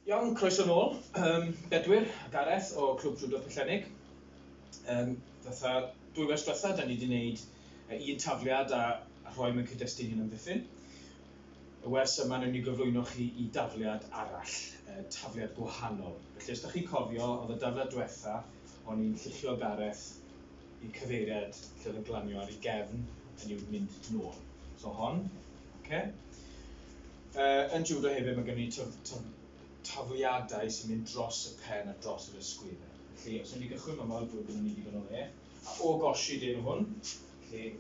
Iawn, croeso nôl. Yym, Bedwyr a Gareth o Clwb Judo Pwllhenneg. Yym, fatha dwy wers diwetha, da ni wedi gwneud un tafliad a rhoi mewn cyd-destun hyn amddiffyn. Y wers yma, newn ni gyflwyno chi i dafliad arall, tafliad gwahanol. Felly, os da chi'n cofio, oedd y dafliad diwetha, o'n i'n lluchio Gareth Y cyfeiriad lle oedd e'n glanio ar ei gefn, hynny yw mynd nôl. So hon, okay. Uh, yn judo hefyd mae gen i taf, taf, tafliadau sy'n mynd dros y pen a dros yr ysgwyddau. Felly, os ydym ni gychwyn mae'n fel bod yn mynd i o le, a o gosi dyn hwn, felly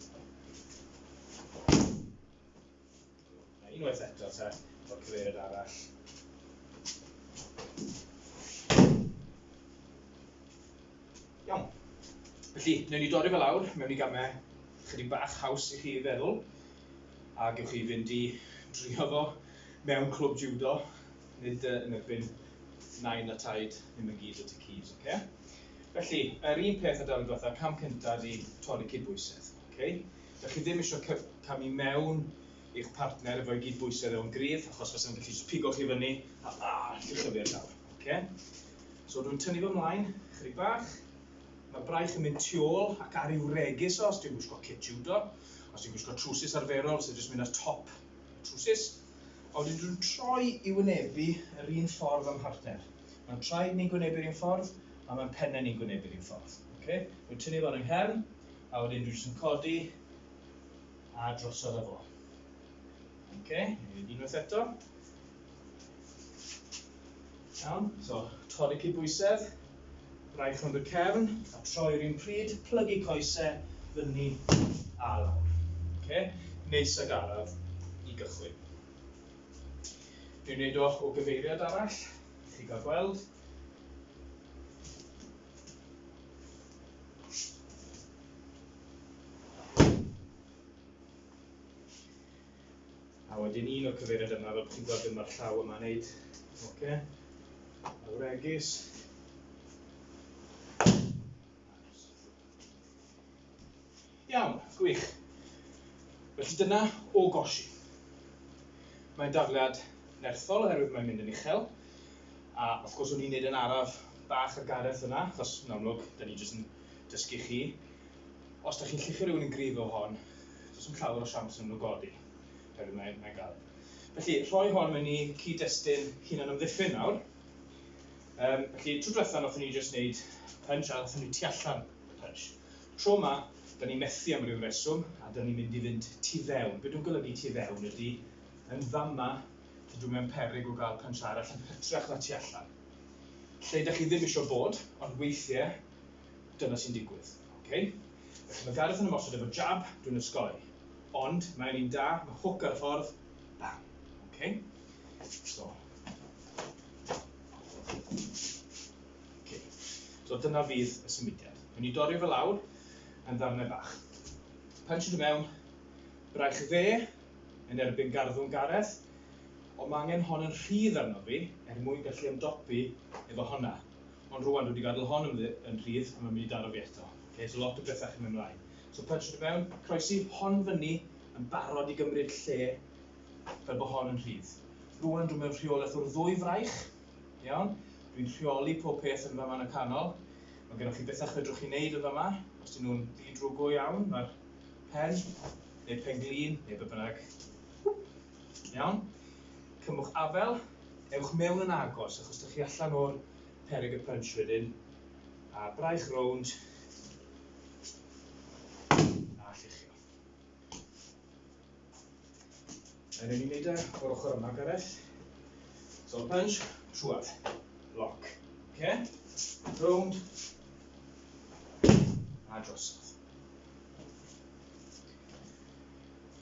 A unwaith eto te, o'r cyfeiriad arall. Iawn. Felly, newn ni dorri fe lawr mewn i gamau chydig bach haws i chi feddwl a gewch chi fynd i drio fo mewn clwb judo, nid uh, yn erbyn nain a taid, ddim yn gyd o ti cyd, oce? Okay? Felly, yr un peth o dan y diwethaf, cam cyntaf ydi torri cydbwysedd. Okay? Dych chi ddim eisiau cyf camu mewn i'ch partner efo i gyd bwysedd o'n gryf, achos fes yn gallu just pigo chi fyny, a a, chi chyfio llawr. Okay? So dwi'n tynnu fy mlaen, chydig bach, mae'r braich yn mynd tu ôl ac ar i'w regis o, os dwi'n gwisgo kit judo, os dwi'n gwisgo trwsus arferol, sy'n jyst mynd ar top trwsus, a wedyn dwi'n troi i wynebu yr un ffordd am partner. Mae'n traed ni'n gwynebu'r un ffordd, a mae'n pennau ni'n gwynebu'r un ffordd. Okay? Dwi'n tynnu fo'n yng nghefn, A wedyn dwi jyst yn codi a drosodd efo. Oce, okay, nid unwaith eto. Iawn, so torri cydbwysedd, rhaid rhwng y cefn a troi'r un pryd, plygu coesau, fyny a lawr. Oce, okay, neis ag araf i gychwyn. Dwi'n gwneud o o gyfeiriad arall, chi gael gweld. A wedyn un o'r cyfeiriad yma, fel bod chi'n gweld beth mae'r llaw yma'n neud. Oce. Awregis. Iawn, gwych. Felly dyna o gosi. Mae'n dafliad nerthol oherwydd mae'n mynd yn uchel. A wrth gwrs o'n i'n neud yn araf bach ar Gareth yna, achos yn amlwg, da ni jyst yn dysgu chi. Os da chi'n llichio rhywun yn gryf o hon, does yn llawer o siawns yn nhw godi. Oherwydd mae'n mae gael. Felly, rhoi hon mewn i cyd-destun hunan ymddiffyn nawr. Um, felly, trwy diwethaf, nath ni jyst wneud punch a nath ni tu allan The punch. Tro 'ma, da ni methu am ryw reswm, a da ni'n mynd i fynd tu fewn. Be dwi'n golygu tu fewn ydy, yn fama, dydw i mewn peryg o gael punch arall yn hytrach na tu allan. Lle da chi ddim isio bod, ond weithiau, dyna sy'n digwydd. Ok? Felly mae Gareth yn ymosod efo jab, dwi'n osgoi. Ond, mae o'n un da, mae hook ar y ffordd, bam. Ok? So. Okay. So dyna fydd y symudiad. Dwi'n ni dorri fe lawr yn ddarnau bach. Punch yn mewn, braich dde yn erbyn garddwng Gareth, ond mae angen hon yn rhydd arno fi er mwyn gallu ymdopi efo honna. Ond rwan dwi wedi gadael hon yn rhydd a mae'n mynd i daro fi eto. Okay, so lot o bethau chi'n mynd ymlaen. So punch yn mewn, croesi hon fyny yn barod i gymryd lle fel bod hon yn rhydd. Rwan dwi'n mewn rheolaeth o'r ddwy fraich, Iawn, dwi'n rheoli pob peth yn fama yn y canol. Mae gennych chi bethau chwedrwch chi wneud yn fama, os dyn nhw'n ddi-drwg go iawn, mae'r pen, neu pen glin, neu be bynnag. Iawn, cymwch afel, ewch mewn yn agos, achos dych chi allan o'r perig y punch wedyn, a braich rownd, a lluchio. Yn ei wneud e o'r ochr yma, Gareth. So punch, trwad, lock. Okay? Rownd. A drosodd.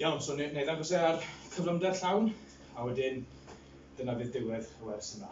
Iawn, so neu ddangos e ar cyflymder llawn, a wedyn dyna fydd diwedd y wers yma.